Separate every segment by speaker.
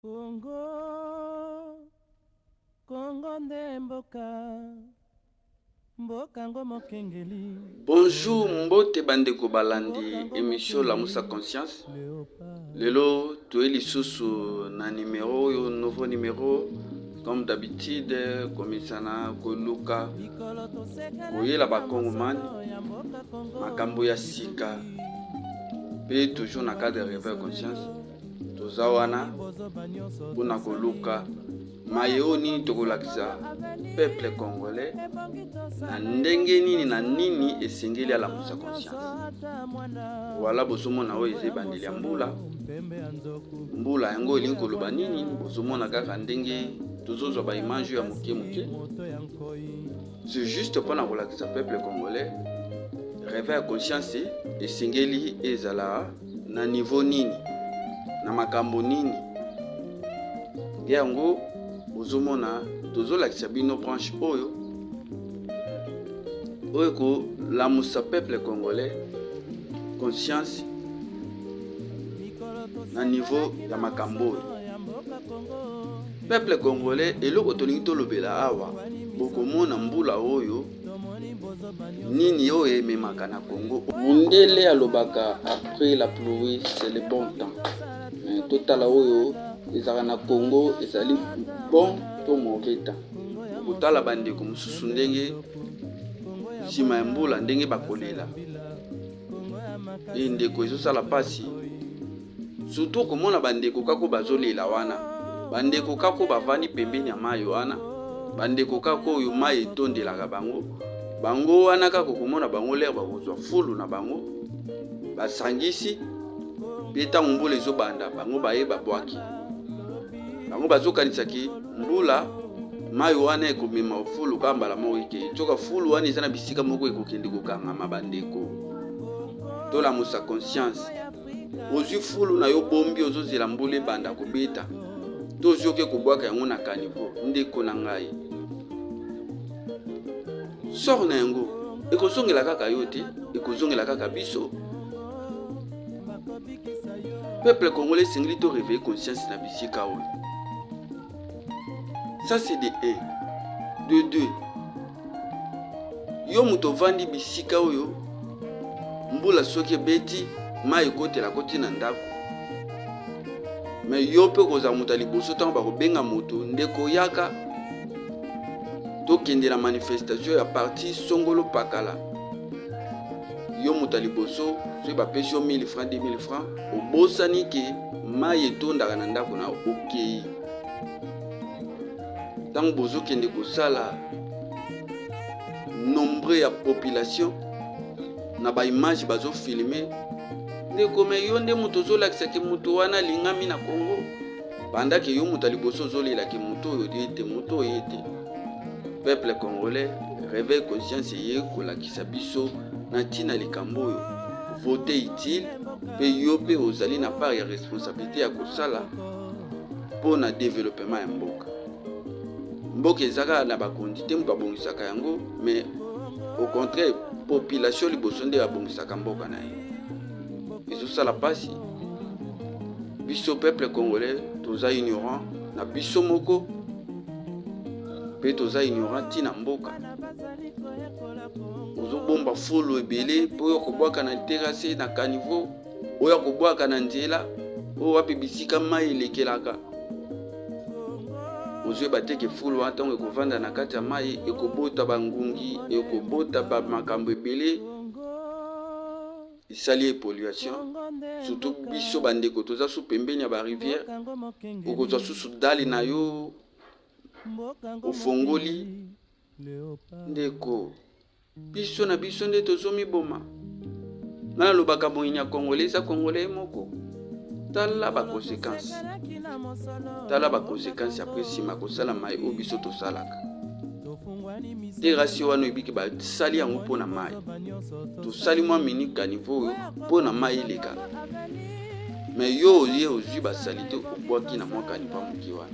Speaker 1: Congo Congo nde mboka Mboka ngo mokengeli Bonjour
Speaker 2: mbote bandeko balandi emission lamusa conscience lelo toye lisusu na numero oyo nouveau numero comme d'habitude komisana koluka koyela bakongomani makambo ya sika mpe toujours na cadre ya reveil conscience toza wana mpo na koluka maye oyo nini tokolakisa peuple congolais na ndenge nini na nini esengeli alamusa conscience wala bozomona oyo eza ebandeli ya mbula mbula yango elingi koloba nini bozomona kaka ndenge tozozwa baimage ya moke moke c'est juste mpo na kolakisa peuple congolais reve ya conscience esengeli ezala na niveau nini na makambo nini nde yango ozomona tozolakisa bino branche oyo oyo ekolamusa peuple congolais conscience na niveau ya makambo oyo peuple congolais eloko tolingi tolobela awa bokomona mbula oyo Nini oyo ememaka na Congo? Mundele alobaka après la pluie c'est le bon temps. Mais totala oyo ezalaka na Congo ezali bon to mauvais temps. Kotala bandeko mosusu ndenge nsima ya mbula ndenge bakolela e ndeko ezosala mpasi surtout komona bandeko kako bazolela wana bandeko kako bavandi pembeni ya mai wana bandeko kako oyo mai etondelaka bango bango wana kako komona bango lere bakozwa fulu na bango basangisi mpe ntango mbula ezobanda bango baye babwaki bango bazokanisaki mbula mai wana ekomema fulu kaka mbala moko ekei soka fulu wana eza na bisika moko ekokende kokangama bandeko tolamusa conscience ozwi fulu na yo bombi ozozela mbula ebanda kobeta to ozwi oke kobwaka yango na kanivo ndeko na ngai sor na yango ekozongela kaka yo te ekozongela kaka biso peuple congolais esengeli to réveiller conscience na bisika oyo ça c'est de 1 de 2 Yo moto ovandi bisika oyo mbula soki ebeti mai ekotela koti na ndako me yo mpe okozala moto ya liboso ntango bakobenga moto ndeko yaka tokende na manifestation ya parti songolo pakala yo moto ya liboso soki bapesi yo 1000 franc 2000 franc obosani ke mai etondaka na ndako na okei okay. ntango bozokende kosala nombre ya population na baimage bazofilme ndeko me yo nde moto ozolakisa ke moto wana alingami na congo bandaki yo moto ya liboso ozolela ke moto oyo ye te moto oyo ye te peuple congolais réveil conscience eye kolakisa biso na ntina likambo oyo vote utile mpe yo mpe ozali na part ya responsabilité ya kosala mpo na developema ya mboka. Mboka eza kaka na bakonzi te moto abongisaka yango, me au contraire population liboso nde abongisaka mboka na ye. Ezosala mpasi biso peuple congolais toza ignorant na biso moko mpe toza ignorant ntina mboka ozobomba fulu ebele mpo yo kobwaka na terase na caniveau oyo akobwaka na nzela oyo wapi bisika mai elekelaka ozoyeba te ke fulu wana ntango ekovanda na kati ya mai ekobota bangungi ekobota bamakambo ebele esali epolluation surtout biso bandeko toza su pembeni ya barivière okozwa susu dali na yo ofongoli ndeko Biso na biso nde tozomiboma. Nga nalobaka moyini ya Congolais eza Congolais ye moko. Tala ba consequences. Tala ba consequences après nsima kosala mai oyo biso tosalaka. Derasio wana ebiki basali yango mpo na mai. Tosali mwa minute caniveau oyo mpo na mai eleka. me yo oye ozwi basalite obwaki na mwa kanipa moke wana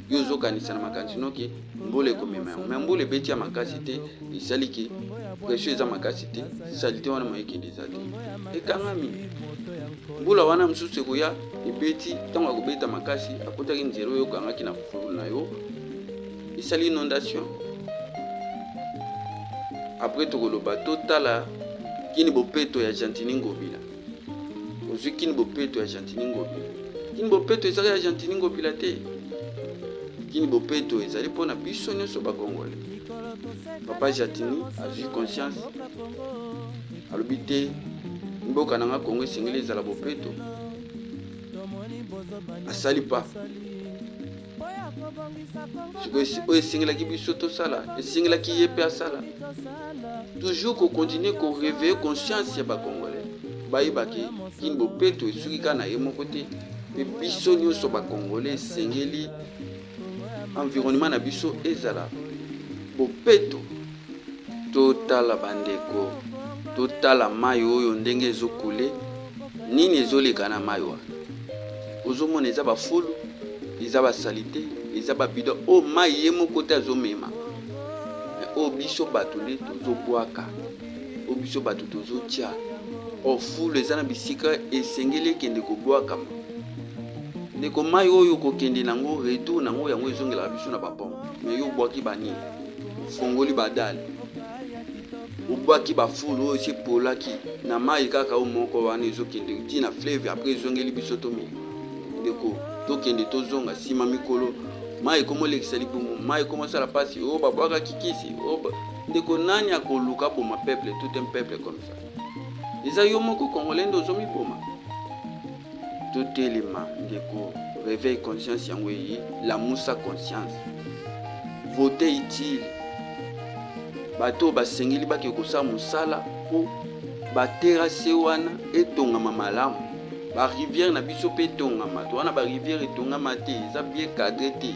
Speaker 2: yo ozokanisa na makanisi noke mbula ekomema yango me mbula ebeti ya makasi te esali ke presio eza makasi te salite wana moyekende eza te ekangami mbula wana mosusu ekoya ebeti ntango akobeta makasi akotaki nzela oyo okangaki na fufulu na yo esali inondation apres tokoloba totala kini bopeto ya gentini ngobila ozwi kini bopeto ya gentini ngobila kini bopeto ezali ya gentini ngobila te kini bopeto ezali mpo na biso nyonso bakongole papa jatini azwi conscience alobi te mboka na nga kongo esengeli ezala bopeto asali pa oyo esengelaki biso tosala esengelaki ye mpe asala toujours kokontinue koreveille conscience ya bacongolais bayebaki kini bopeto esuki kaka na ye moko te mpe biso nyonso bacongolais esengeli environnement na biso ezala bopeto Totala bandeko, totala mai oyo ndenge ezokule. Nini ezoleka na mai wana? Ozomona eza bafulu, eza basalite, eza babido oyo oh, mai ye moko te azomema, me oyo oh, biso bato nde tozobwaka, oyo oh, biso bato tozotya. O fulu eza na bisika esengeli ekende kobwakama. Ndeko mai oyo kokende nango retour nango yango ezongelaka biso na bapompe, me yo obwaki banini? ofongoli badale obwaki bafulu oyo esi epolaki na mai kaka oyo moko wana ezokende ti na fleve apres ezongeli biso tomeli ndeko tokende tozonga nsima mikolo mai ekomolekisa libumu mai ekomosala mpasi oyo oh, babwakaki kisi oyo oh, ndeko nani akoluka boma peuple tout un peuple comme ça eza yo moko congolais nde ozomiboma Totelema ndeko, reveil conscience yango eye, lamusa conscience. Vote utile. Bato oyo basengeli bake kosala mosala mpo baterase wana etongama malamu. Bariviere na biso mpe etongama, to wana bariviere etongama te, eza bien cadre te.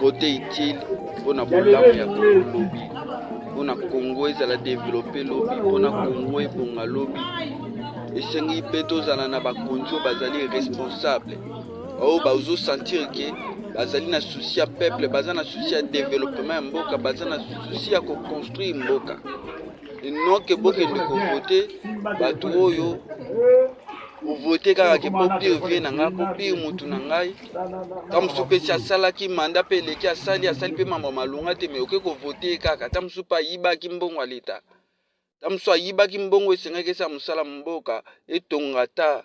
Speaker 2: Vote utile mpo na bolamu ya Kongo lobi, mpo na Kongo ezala develope lobi, mpo na Kongo ebonga lobi. Esengi mpe tozala na bakonzi oyo bazali responsable, oyo bazosentir ke bazali na susi ya peuple, baza na susi ya developema ya mboka, baza na susi ya koconstruire mboka enoke bokende kovote bato oyo ovote kaka ke mpo pire vie na ngai mpo pire motu na ngai ta mosusu mpe si asalaki manda mpe eleki asali asali mpe mambo malonga te me oke kovote ye kaka ta mosusu mpe ayibaki mbongo ya leta ta mosusu ayibaki mbongo esengaki esala mosala mboka etonga ta